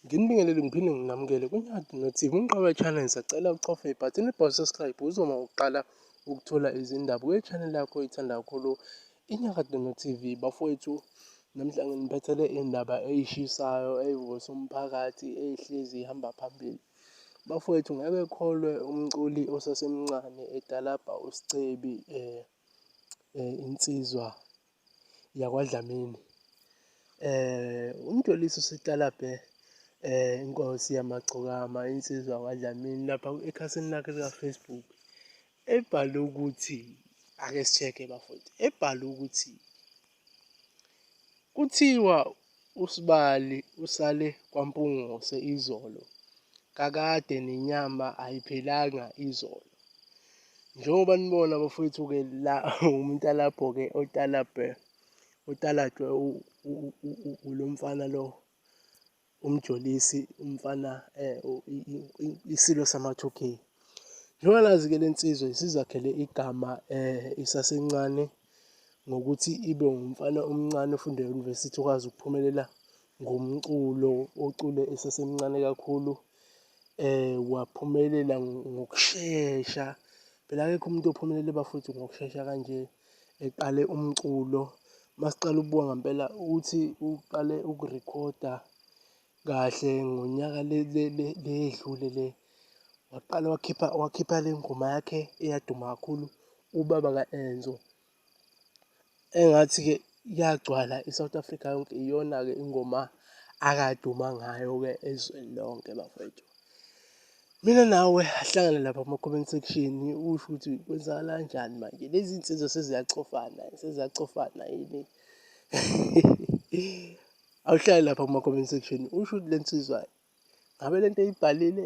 Nginibingelele ngiphinde nginamukele kuNyati noThiba uMqoka Channel sacela ucofe ibhathini elibhalwe subscribe uzoma uqala ukuthola izindaba kwi-channel yakho oyithanda kakhulu iNyakade noTV bafowethu namhla nginiphethele indaba eyishisayo eyivusa umphakathi ehlezi ihamba phambili Bafowethu ngeke kholwe umculi osasemncane etalabha uScebi eh, eh insizwa yakwaDlamini eh umjolisi usitalabhe eh inkosi yamagcokama insizwa yakwaDlamini lapha ekhasini lakhe lika Facebook ebhale ukuthi ake sicheke bafowethu ebhale ukuthi Kuthiwa uSibali usale kwaMpungose izolo kakade nenyama ayiphelanga izolo. Njengoba nibona bafowethu-ke la umtalabho-ke otalabhe otalatshwe ulo mfana lo umjolisi umfana eh, isilo sama-2k njengoba nazi-ke le nsizwa isizakhele igama eh, isasencane ngokuthi ibe umfana omncane ofunde e-university okwazi ukuphumelela ngomculo ocule esesemncane kakhulu eh waphumelela ngokushesha phela akekho umuntu ophumelele bafowethu ngokushesha kanje eqale umculo masiqala ukubuka ngempela ukuthi uqale ukurekhoda kahle ngonyaka le edlule le waqala wakhipha wakhipha le ngoma yakhe eyaduma kakhulu ubaba ka-Enzo engathi-ke iyagcwala i-South Africa yonke iyona-ke ingoma akaduma ngayo-ke ezweni lonke bafowethu mina nawe ahlangane lapha kuma-comment section usho ukuthi kwenzakala kanjani manje lezi nsizwa seziyacofana seziyacofana yini awuhlale lapha kuma-comment section usho ukuthi le nsizwa ngabe le nto eyibhalile